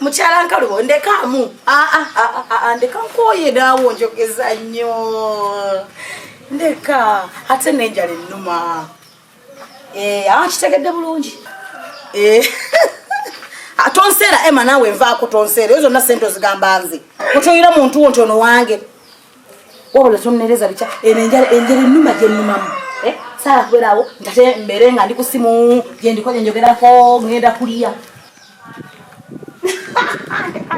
mukyala nkalubo ndekaamu ndeka nkooye daawo njogeza nnyo ndeka ate nenjala ennuma Eh, akitegedde bulungi eh. ah, tonseera ema naawe nvaako tonseera eyo zonna sente ozigamba nze otoyira muntu wo nti ono wange wabula tonnereza bikya eno enjala enjala ennuma gyennumamu eh, saala kubeerawo ntate mbeere nga ndi ku simu gyendiko gyenjogerako ngenda kulya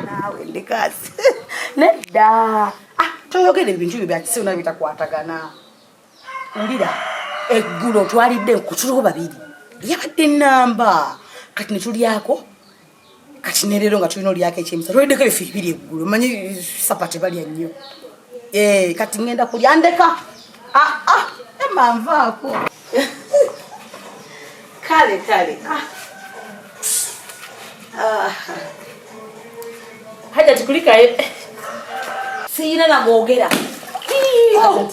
naawe ndikazi nedda ah, toyogera ebintu byo byakisibu nabyo bitakwatagana Wulira eggulo twalidde nkutuliwo babiri yabadde namba kati ne tulyako kati ne leero nga tulina olyako ekyemisa tweddeko ebifi bibiri eggulo manyi sapa tebalya nnyo eh, kati ngenda kulya ndeka ah, ah, emanvaako kale kale ah. haja tukulikaye siyina nagogera oh.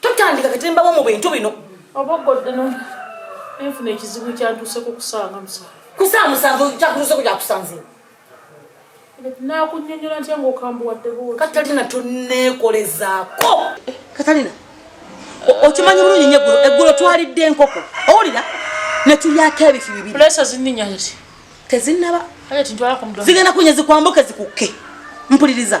totandika kati mbawo mu bintu bino obagoddeno enfuna ekizibu kyantuuseko kusanga musanvu kusanga musanvu kyakutuuseko kyakusanze nakunyonyola ntya ngaokambuwaddeko katalina toneekolezaako katalina okimanyi bulungi nyo eggulo eggulo twalidde enkoko owulira netulyako ebifi bibiri tezinaba zigenda kunya zikwambuke zikukke mpuliriza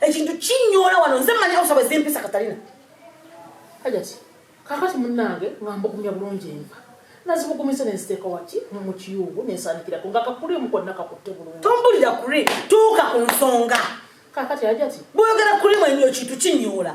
ekintu kinyoola wano nze mmanyi okusaba ezimpisa katalina hajati kakati munnange nga mbugumya bulungi enva nazibugumiza nenziteeka waki mu kiyungu nensaanikirako nga kakuli omu konna kakutte bulungi tombulira kuri tuuka ku nsonga kakati hajati bwoyogera kuri mwenyo ekintu kinyoola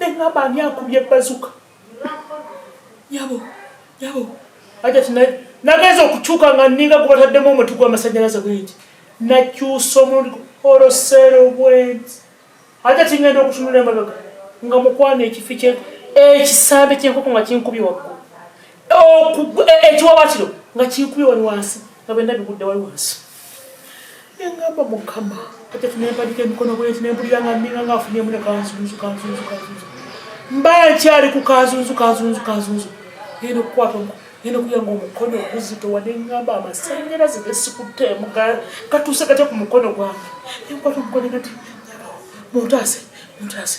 nengamba ani akubye bazuka yabo yabo aja tinaye nageza okukyuka nga ninga gubataddemu omuti gwamasanyalaze bwenti nakyusa omulundi olosero bwenti aja tingenda okutunula emabega nga mukwana ekifi kye ekisambi kyenkoko nga kinkubye wakku e, e, ekiwabatiro nga kinkubye wali wansi nga bendabigudde wali wansi Nengamba mukama kati tunempadika emikono bwezi nempulira nga ninga nga afunyemu ne kanzunzu kanzunzu kanzunzu mba nkyali ku kanzunzu kanzunzu kanzunzu nenda okukwata omukono nenda okuya nga omukono oguzitowa nengamba amasanyalaze gesikutemu katuuse katya ku mukono gwange nenkwata omukono nati muntaase muntaase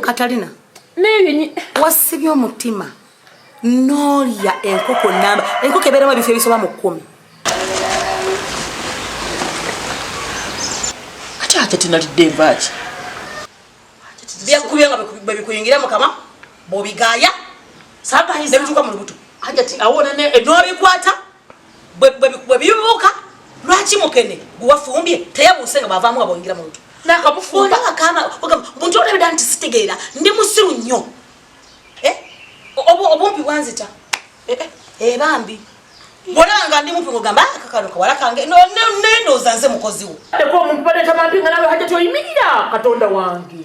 katalina wasibye omutima nolya enkoko namba enkoko ebeeramu ebifo ebisoba mu kkumi ate ate tinalidde envaaki byakubye nga bwebikuyingira mukama bwobigaaya nebituuka mu lubuto nolwikuata bwe bibuuka lwaki mukene gwewafumbye teyabuuse nga bwavaamu abongira mu lutu nakamufumba akama buntu olabida nti sitegeera ndi musiru nnyo eh? obumpi bwanzita eh, eh, ebambi bwolaba nga ndi mumpi ngogamba ah, kakano kawala kange nendooza nze mukoziwo eko omuntu baleeta bampi nga nawe hajati oyimirira katonda wange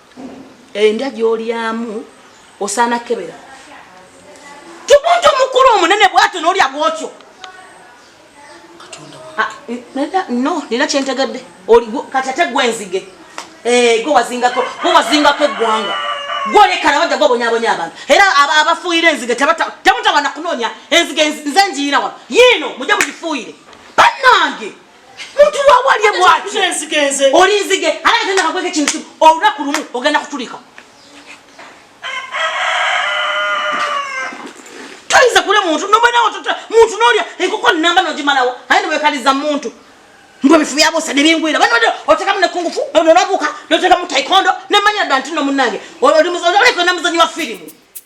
endya gyolyamu osaana kebera tumuntu omukulu omunene bwatyo nolya bwotyo ah, no nina kyentegedde kati ate gwenzige eh, gwe wazingako gwe wazingako eggwanga gwolekana wajja gwabonyabonya abantu era abafuuyira enzige temutawana kunoonya enzige nze njiina wano yiino mujja mugifuuyire banange Mutu wa wali mwati. Kenzi kenzi. Oli nzige. Ala tena kakweke chintu. Ola kulumu. Ogenda kutulika. Tuliza kule muntu. Nomba na watoto. Muntu nolia. Eko kwa namba na ojima lawa. Haya ni wekaliza muntu. Mbo mifu yabo sa debingu ila. Bani wade. Oteka mne kungu fu. Nono nabuka. Noteka mu taekwondo. Nemanya dantino munage. Oli mzanyo. Oli kwa namzanyo wa filimu.